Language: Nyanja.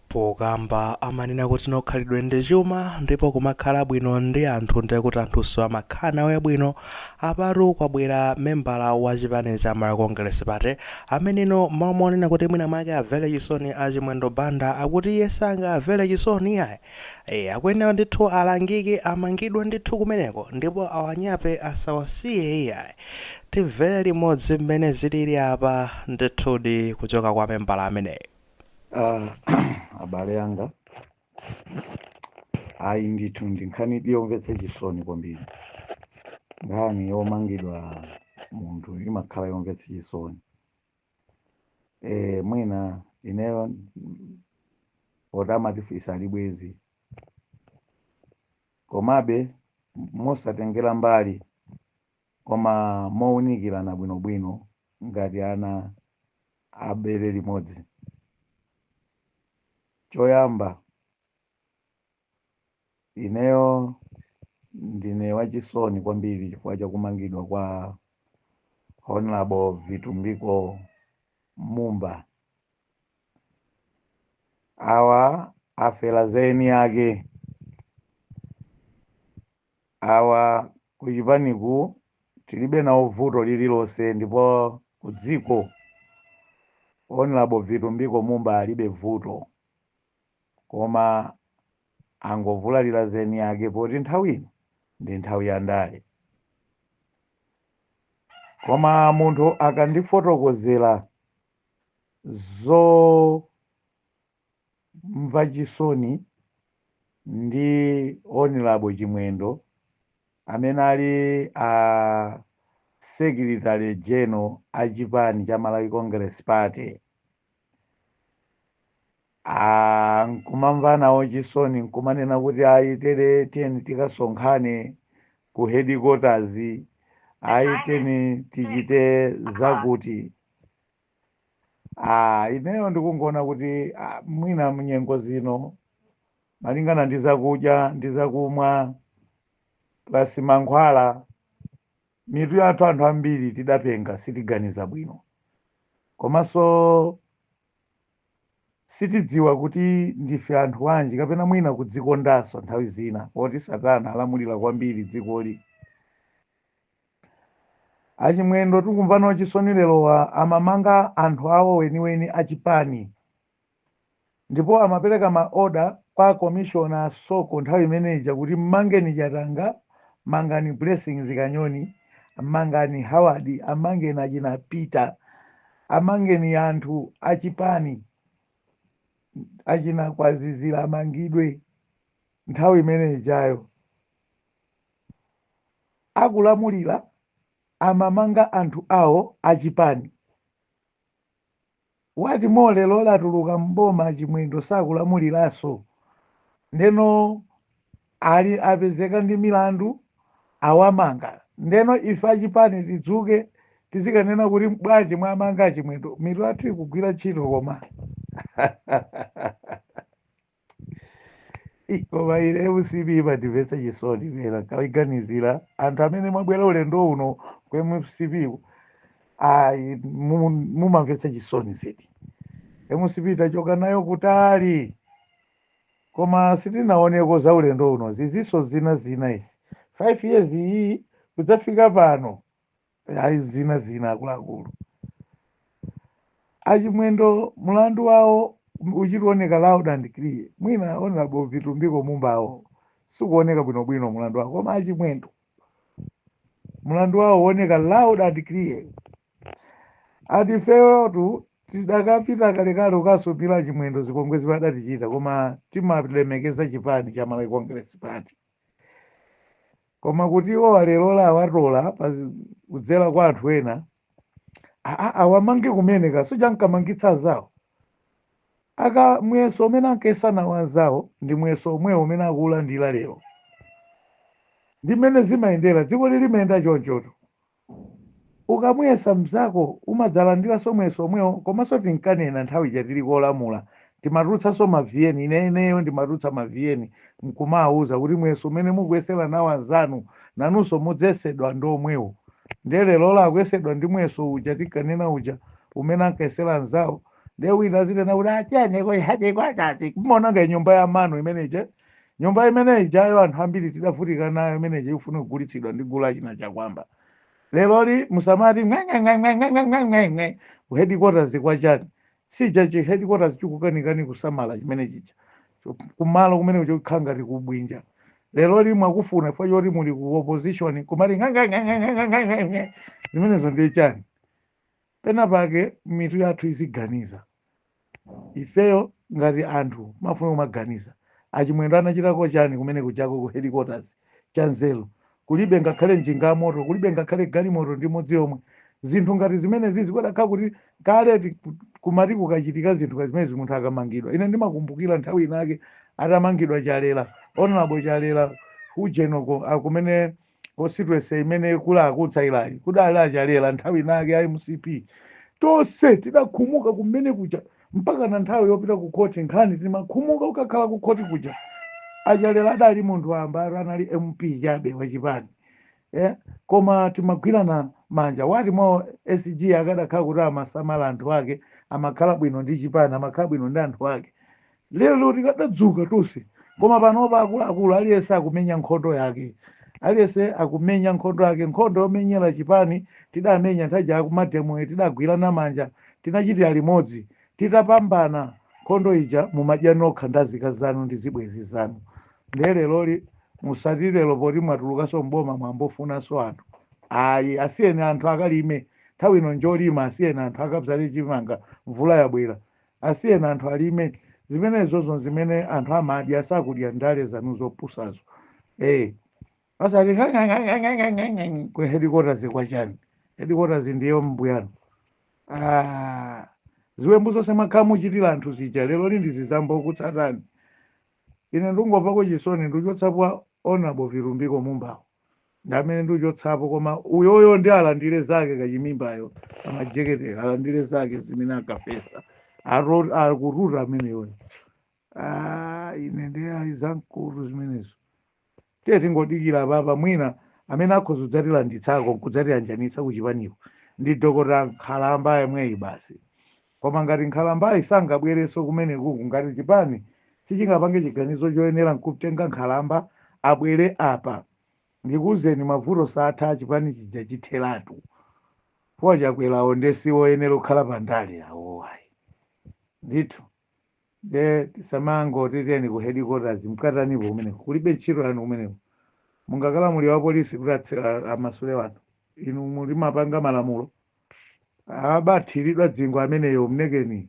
Pokamba amanena kuti nkhalidwe ndi chuma ndipo kumakhala bwino ndi anthu ndekuti anthunso amakhala nawe bwino, apatu kwabwera membala wa chipani cha Malawi Congress Party ameneno mmalo monena kuti mwina mwake amvele chisoni a Chimwendo Banda akuti iye sangamvele chisoni iyayi, ee akuyenera ndithu alangike amangidwe ndithu kumeneko ndipo awanyape asawasiye iyayi. Timvele limodzi mmene zilili apa ndithudi kuchoka kwa membala ameneyu. Ah, abale anga ayi ndithu ndi nkhanidi yomvetsa chisoni kwambiri nkhani yomangidwa munthu imakhala yomvetsa chisoni e, mwina ineyo mm, poti amatifisa ali bwezi komabe mosatengera mbali koma mowunikirana bwinobwino ngati ana a bere limodzi choyamba ineyo ndine wachisoni kwambiri chifukwa cha kumangidwa kwa honorable Vitumbiko Mumba awa afera za eni ake Awa kuchipaniku tilibe nawo vuto lililonse ndipo kudziko Honorable Vitumbiko Mumba alibe vuto koma angovulalira za eniake poti nthawi ino ndi nthawi ya ndale. Koma munthu akandifotokozera zo. mva chisoni ndi Honorable Chimwendo amene ali a Secretary General a chipani cha Malawi Congress Party Ah, nkumamva nawo chisoni nkumanena kuti ayi tere tiyeni tikasonkhane ku headquarters ayi tiyeni tichite zakuti Ah, ineyo ndikungoona kuti ah, mwina mnyengo zino malingana ndi zakudya ndi zakumwa plus mankhwala mitu yathu anthu ambiri tidapenga sitiganiza bwino komanso sitidziwa kuti ndife anthu wanji kapena mwina kudzikondanso nthawi zina poti satana alamulira kwambiri dzikoli Achimwendo tikumva nawo chisoni lerowa amamanga anthu awo weniweni a chipani ndipo amapereka ma order kwa commissioner a Soko nthawi imene ija kuti mmangeni Chatanga, mangani Blessings Kanyoni, mangani Howard, amangeni achina Peter, amangeni anthu a chipani achina Kwazizira amangidwe nthawi imene ijayo. akulamulira amamanga anthu awo achipani. What more lero latuluka m'boma achimwendo sakulamuliranso ndeno alero apezeka ndi milandu awamanga ndeno ife achipani tidzuke tizikanena kuti bwanji mwamanga achimwendo mitu yathu ikugwira ntchito koma Ih, koma ine mcp imandimvetsa chisoni penake ndikaganizira anthu amene mwabwera ulendo uno ku mcp ku, ayi mu- mumamvetsa chisoni zedi mcp tachoka nayo kutali koma sitinaoneko za ulendo uno zizinso zina zina izi 5 years iyi kudzafika pano ayi zina zina akuluakulu achimwendo mulandu wawo uchita kuoneka loud and clear mwina honorable vitumbiko mumbawo sikuoneka bwinobwino mulandu wawo koma achimwendo mulandu wawo uoneka loud and clear ati ifeyotu tidakapita kalekale kukasumira achimwendo zipongwe zimene adatichita koma timalemekeza chipani cha malawi congress party koma kuti iwo alerola awatola pa zi- kudzera kwa anthu ena aa awamange kumene kansi uja ankamangitsa anzawo aka muyeso umene ankayesa nawo anzawo ndi muyeso omwewo umene akuulandira lero ndi mmene zimayendera dzikoli limayenda chonchotu Ukamuyesa mzako umadzalandilaso muyeso omwewo komaso tinkanena nthawi ija tili kulamula timatulutsaso ma vn ineneyo ndimatulutsa ma vn mkumawuza kuti muyeso umene mukuyesela nawo anzanu nanuso mudzayesedwa ndi omwewo ndiye lerola akuyesedwa ndi muyeso uja tinkanena uja umene ankayesela anzawo ndiye wina azinena kuti a tiyeni ku headquarters mmaononga nyumba ya mano imene ija Nyumba imene ijayo anthu ambiri tidavutika nayo imene ija ikufuna kugulitsidwa ndi gulu la achina Chakuamba. Leroli musamati ng'eng'eng'eng'eng'eng'eng'eng'eng'e ku headquarters kwa chani? Sichija chi headquarters chikukanikani kusamala chimene chija. Cho- Kumalo kumene kuja kukhala ngati kubwinja. Leroli mwakufuna chifukwa choti muli ku opposition kumati ng'eng'eng'eng'eng'eng'eng'e zimenezo ndiye chani? Pena pake mitu yathu iziganiza. Ifeyo ngati anthu timafuna kumaganiza. A Chimwendo anachitako chani kumene kujako ku headquarters cha nzeru? Kulibe ngakhale njinga ya moto, kulibe ngakhale galimoto ndi imodzi yomwe. Zinthu ngati zimenezizi kudakhala kuti kale kumati kukachitika zinthu ngati zimenezi munthu akamangidwa. Ine ndimakumbukira nthawi inake atamangidwa Chalera, Hon. Chalera ku ujeni uko, a kumene constituency imene kuli a kutsairayi kudali achalera nthawi inake a mcp tonse tidakhumuka kumene kuja mpaka na nthawi yopita ku khoti nkhani timakhumuka ukakhala ku khoti kuja achalera adali munthu wamba ati anali mp chabe wachipani eh? koma timagwirana manja what more sg akadakhala kuti amasamala anthu ake amakhala bwino ndi chipani amakhala bwino ndi anthu ake Lero tikadadzuka tonse koma panopa akuluakulu aliyense akumenya nkhondo yake. Aliyense akumenya nkhondo yake. Nkhondo yomenyera chipani tidamenya nthawi ija akumademoyo tidagwirana manja tinachitira limodzi. Titapambana nkhondo ija mumadya nokha ndi azikazi anu ndi zibwenzi zanu. Ndiye leroli musati lero poti mwatulukanso m'boma mwambofunanso anthu. Ayi, asiyeni anthu akalime. Nthawi ino njolima asiyeni anthu akabzale chimanga mvula yabwera. Asiyeni anthu alime zimenezozo nzimene anthu amadya sakudya ndale zanu zopusazo ee osati ng'ang'ang'ang'ang'ang'ang'ang'ang'ang'ang'a ku headquarters kwa chani headquarters ndi ombuyanu ah ziwembu zonse mwakhala muchitira anthu zija leroli ndizi zambokutsatani ine ndungomvako chisoni nduchotsapo honorable vitumbiko mumbawo ndi amene ndiuchotsapo koma uyoyo ndi alandire zake kachimimbayo amajekete alandire zake zimene akafesa Aro- akututa ameneyo Ah, ine ndi ayi zamkutu zimenezo tiye tingodikira papa mwina amene akhoza kudzatilanditsako nkudzatiyanjanitsa kuchipaniko ndi dokota nkhalamba yemweyi basi koma ngati nkhalambayi sangabwerenso kumenekuku ngati chipani sichingapange chiganizo choyenera nkutenga nkhalamba abwere apa ndikuuzeni mavuto saatha chipani chija chithelatu po chakwerawo nde siwoyenera kukhala pa ndale awowo ayi ndithu nde tisamangoti tiyeni ku headquarters mkatanipo kumeneko kulibe ntchito yanu kumeneko mungakalamulire wa polisi kuti atse- a- amasule wanthu inu muli mapanga malamulo abathiridwa dzingwe ameneyo mnekeni